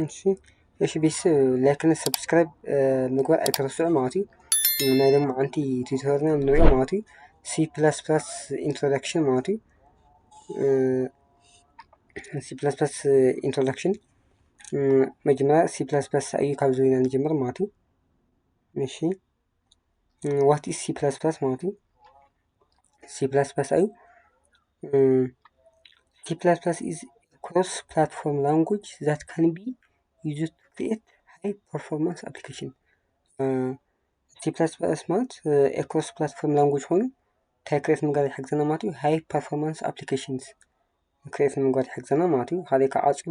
እሺ እሺ ቤተሰብ ላይክን ሰብስክራይብ ምግባር ኣይተረስዑ ማለት እዩ ናይ ደግሞ ሓንቲ ቲዩቶርና ንሪኦ ማለት እዩ ሲ ፕላስ ፕላስ ኢንትሮዳክሽን ማለት እዩ ሲ ፕላስ ፕላስ ኢንትሮዳክሽን መጀመሪያ ሲ ፕላስ ፕላስ እዩ ካብ ዝና ንጀምር ማለት እዩ እሺ ዋት ኢዝ ሲ ፕላስ ፕላስ ማለት እዩ ሲ ፕላስ ፕላስ ኣዩ ሲ ፕላስ ፕላስ ኢዝ ክሮስ ፕላትፎርም ላንጉጅ ዛት ካን ቢ ዩዝ ቱ ክሪኤት ሃይ ፐርፎርማንስ ኣፕሊኬሽን ሲ ፕላስ ፕላስ ማለት ክሮስ ፕላትፎርም ላንጉጅ ኮይኑ እንታይ ክሬት ምግባር ይሕግዘና ማለት እዩ ሃይ ፐርፎርማንስ ኣፕሊኬሽንስ ክሬት ምግባር ይሕግዘና ማለት እዩ ካልእ ከዓ ዓፅዩ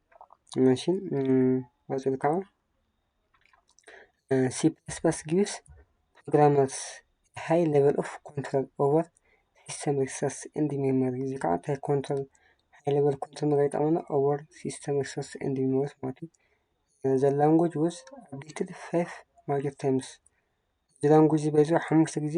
እሺ ቀጽል ከዓ ሲ ፕላስ ፕላስ ጊቭስ ፕሮግራመርስ ሃይ ሌቨል ኦፍ ኮንትሮል ኦቨር ሲስተም ሪሶርስ ኤንድ ሜሞሪ እዚ ከዓ እንታይ ኮንትሮል ሃይ ሌቨል ኮንትሮል ምግባር ይጠቅመና ኦቨር ሲስተም ሪሶርስ ኤንድ ሜሞሪስ ማለት እዩ። ዘ ላንጉጅ ወዝ አፕዴትድ ፋይቭ ማጆር ታይምስ እዚ ላንጉጅ በዚ ሓሙሽተ ጊዜ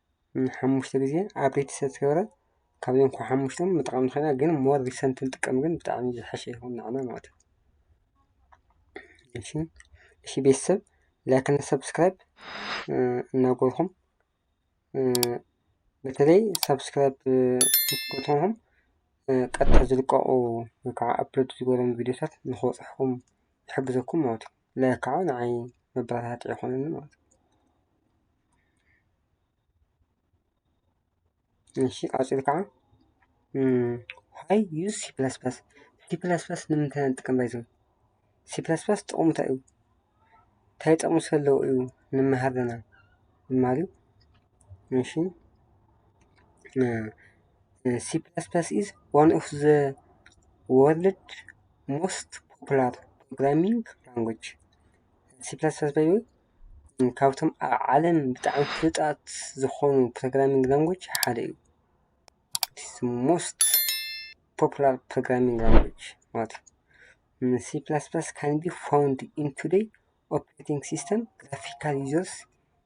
ሓሙሽተ ግዜ ኣብዴት ስለዝተገብረ ካብዚኦም ካብ ሓሙሽተ ምጥቃም ንክእል ኢና ግን ሞር ሪሰንት ክንጥቀም ግን ብጣዕሚ ዝሐሸ ይከውን ንዓና ማለት እዩ። እሺ ቤተሰብ ላይክ እና ሰብስክራይብ እናገበርኩም በተለይ ሰብስክራይብ ክትገብሩም ቀጥታ ዝልቀቁ ወይ ከዓ ኣፕሎድ ዝበሎም ቪድዮታት ንክበፅሕኹም ይሕግዘኩም ማለት እዩ። ለክዑ ንዓይ መበረታትዒ ኮይኑኒ ማለት እዩ። እሺ ቀፂሉ ከዓ ዋይ ዩዝ ሲ ፕለስ ፕለስ ሲ ፕለስ ፕለስ ንምንታይ ኢና ንጥቀም ባይዘ ሲ ፕለስ ፕለስ ጥቕሙ እንታይ እዩ? እንታይ ጥቕሚ ዘለዎ እዩ ንመሃር ዘለና ንማሃር እዩ። እሺ ሲ ፕላስ ፕላስ ኢዝ ዋን ኦፍ ዘ ወርልድ ሞስት ፖፑላር ፕሮግራሚንግ ላንጉጅ ሲ ፕላስ ፕላስ ባይ ካብቶም ኣብ ዓለም ብጣዕሚ ፍሉጣት ዝኾኑ ፕሮግራሚንግ ላንጉጅ ሓደ እዩ። ሞስት ፖፑላር ፕሮግራሚንግ ላንጉጅ ማለት እዩ። ሲ ፕላስ ፕላስ ካን ቢ ፋውንድ ኢን ቱደይ ኦፕሬቲንግ ሲስተም ግራፊካል ዩዘርስ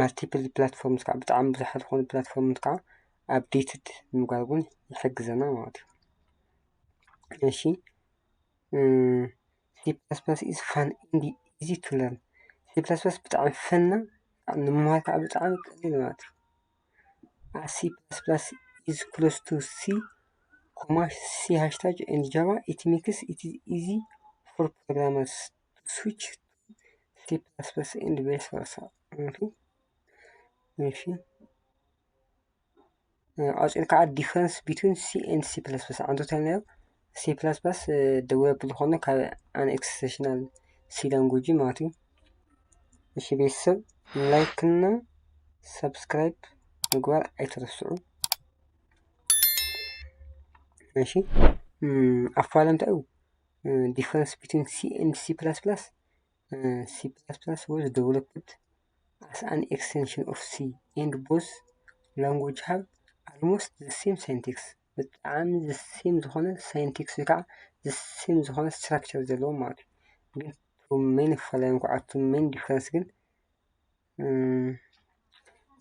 ማልቲፕል ፕላትፎርምስ ከዓ ብጣዕሚ ብዙሓት ዝኾኑ ፕላትፎርምስ ከዓ ኣፕዴትድ ንምግባር እውን ይሕግዘና ማለት እዩ። እሺ ሲ ፕላስ ፕላስ ኢዝ ፋን ኤንድ ኢዚ ቱ ለርን ሲ ፕላስ ፕላስ ብጣዕሚ ፈን እና ንምምሃር ከዓ ብጣዕሚ ቀሊል እዩ ማለት እዩ። ኣስ ሲ ፕላስ ፕላስ ኢዝ ክሎዝ ቱ ሲ ኮማ ሲ ሃሽታግ ኤንድ ጃቫ ኢት ሜክስ ኢት ኢዚ ፎር ፕሮግራመርስ ስዊች ሲ ፕላስ ፕላስ ኤንድ ቫይስ ቨርሳ ማለት እዩ። እሺ ኣውፅእን ከዓ ዲፍረንስ ቢትዊን ሲ ኤንድ ሲ ፕላስ ፕላስ ዓንቶ ተናዮ ሲ ፕላስ ፕላስ ደወብ ዝኾነ ካብ ኣን ኤክስቴሽናል ሲ ላንጉጅ ማለት እዩ። እሺ ቤተሰብ ላይክ እና ሰብስክራይብ ምግባር ኣይትረስዑ። እሺ ኣፋል እንታይ እዩ? ዲፍረንስ ቢትዊን ሲ ኤንድ ሲ ፕላስ ፕላስ ሲ ፕላስ ፕላስ ወዝ ደቨሎፕድ ኣስ ኣን ኤክስቴንሽን ኦፍ ሲ ኤንድ ቦዝ ላንጉጅ ሃብ ኣልሞስት ዘ ሴም ሳይንቲክስ ብጣዕሚ ዘ ሴም ዝኾነ ሳይንቲክስ ወይ ከዓ ዘ ሴም ዝኾነ ስትራክቸር ዘለዎም ማለት እዩ ግን ሜን ኣፈላላዮም ከዓ እቲ ሜን ዲፍረንስ ግን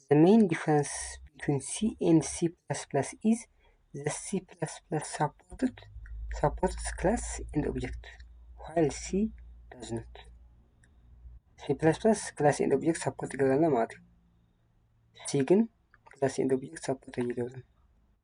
ዘ መይን ዲፈረንስ ቢትዊን ሲ ኤንድ ሲ ፕላስ ፕላስ ኢዝ ዘ ሲ ፕላስ ፕላስ ሳፖርትድ ሳፖርትስ ክላስ ኤንድ ኦብጀክት ዋይል ሲ ዳዝ ኖት። ሲ ፕላስ ፕላስ ክላስ ኤንድ ኦብጀክት ሳፖርት ይገብረና ማለት እዩ። ሲ ግን ክላስ ኤንድ ኦብጀክት ሳፖርት ኣይገብርም።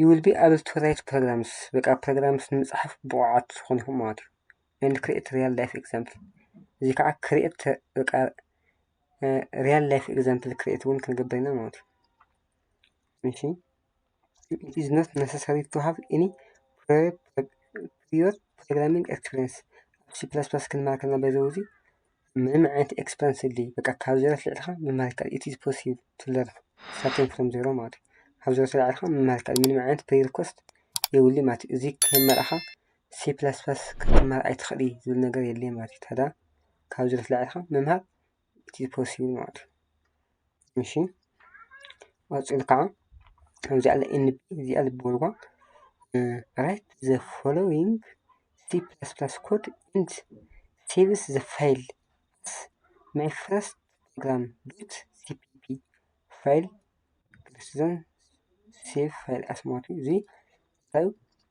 ዩ ዊል ቢ ኣብል ቱ ራይት ፕሮግራምስ በቃ ፕሮግራምስ ንምጽሓፍ ብቑዓት ትኾኑ ኢኹም ማለት እዩ ኤንድ ክርኤት ርያል ላይፍ ኤግዛምፕል እዚ ከዓ ክርኤት በቃ ርያል ላይፍ ኤግዛምፕል ክርኤት እውን ክንገብር ኢና ማለት እዩ እሺ it is not necessary to have any prior ፕሪዮር ፕሮግራሚንግ ኤክስፒሪንስ ኣብ ሲ ፕላስ ፕላስ ክንማሃር ከለና በዚ ውዚ ምንም ዓይነት ኤክስፐንስ የብልይ በቃ ካብ ዜሮ ኣልዒልኻ ምምሃር ይከኣል ኢት ኢዝ ፖሲብል ቱ ለርን ስታርቲንግ ፍሮም ዜሮ ማለት እዩ ካብ ዜሮ ተልዒልኻ ምምሃር ይከኣል ምንም ዓይነት ፕሪ ሪኮስት የብሉይ ማለት እዩ እዚ ከይመርኣኻ ሲ ፕላስ ፕላስ ክትምሃር ኣይትኽእሊ ዝብል ነገር የለይ ማለት እዩ ታዳ ካብ ዜሮ ተልዒልኻ ምምሃር ኢት ኢዝ ፖሲብል ማለት እዩ እሺ ቀጺሉ ካኣ ከምዚኣ ኣላ NB እዚኣ ዝበልዋ ራይት ዘ ፎሎዊንግ C++ ኮድ ኢንድ ሴቭስ ዘ ፋይል ኣስ ማይ ፈርስት ፕሮግራም ዶት ሲፒፒ ፋይል ክርስትዘን ሴቭ ፋይል ኣስ ማለት እዩ እዚ።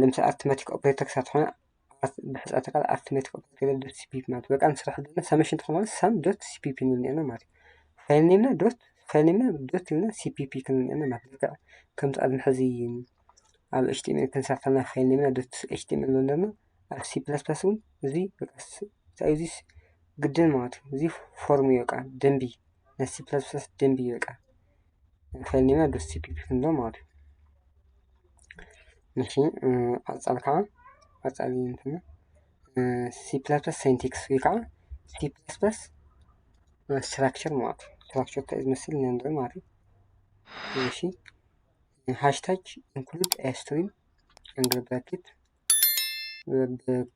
ንምስ ኣርቲመቲክ ኦፕሬተር ክትኮን ብሕፀቲ ቓል ኣርቲመቲክ ኦፕሬተር ዶት ሲፒፒ ማለት በቃ ንስራሕ ዘለና ሰመሽን ተኾን ሳም ዶት ሲፒፒ ንልና ማለት ፋይልኔምና ዶት ፋይልኔምና ዶት ኢልና ሲፒፒ ክንልና ማለት ልክዕ ከምቲ ኣብዚ ሕዚ ኣብ ኤችቲኤምኤል ክንሰርተና ፋይልኔምና ዶት ኤችቲኤምኤል ዘለና ኣብ ሲ ፕላስ ፕላስ እውን እዚ በቃ እንታይ እዩ እዚስ ግድን ማለት እዩ እዚ ፎርም እዩ በቃ ደንቢ ናይ ሲ ፕላስ ፕላስ ደንቢ እዩ በቃ ፈኒና ደስ ይብል ክንዶ ማለት እዩ እሺ ቀፃሊ ከዓ ቀፃሊ እንትን ሲ ፕላስ ፕላስ ሳይንቲክስ ወይ ከዓ ሲ ፕላስ ፕላስ ስትራክቸር ማለት እዩ ስትራክቸር እንታይ እዩ ዝመስል ንርኢ ማለት እዩ እሺ ሃሽታግ ኢንክሉድ ስትሪም እንግሊዝ ብራኬት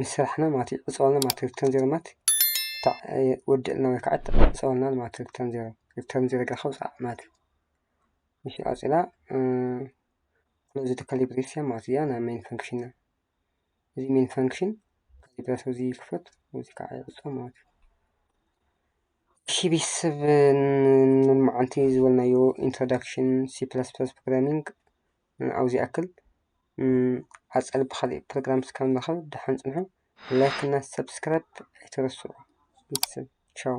ንስራሕና ማለት እዩ ዕፅዋና ማለት እዩ ሪተርን ዜሮ ማለት ወደኣልና ወይ ከዓ ዕፀወልና ማለት እዩ ሪተርን ዜሮ ሪተርን ዜሮ ጌርካ ውፃእ ማለት እዩ እሺ ቀፂላ ክሎዝ ዘ ከርሊ ብሬስ እያ ማለት እያ ናይ ሜን ፈንክሽንና እዚ ሜን ፈንክሽን ከርሊ ብሬስ እዚ ክፈት እዚ ከዓ ይዕፆ ማለት እዩ እሺ ቤተሰብ ንመዓንቲ ዝበልናዮ ኢንትሮዳክሽን ሲ ፕላስ ፕላስ ፕሮግራሚንግ ንዑ ዝኣክል ቀፃሊ ብካሊእ ፕሮግራም እስካብ ንራከብ ደሓን ፅንሑ ላይክ እና ሰብስክራይብ ኣይትረስዑ ቻው።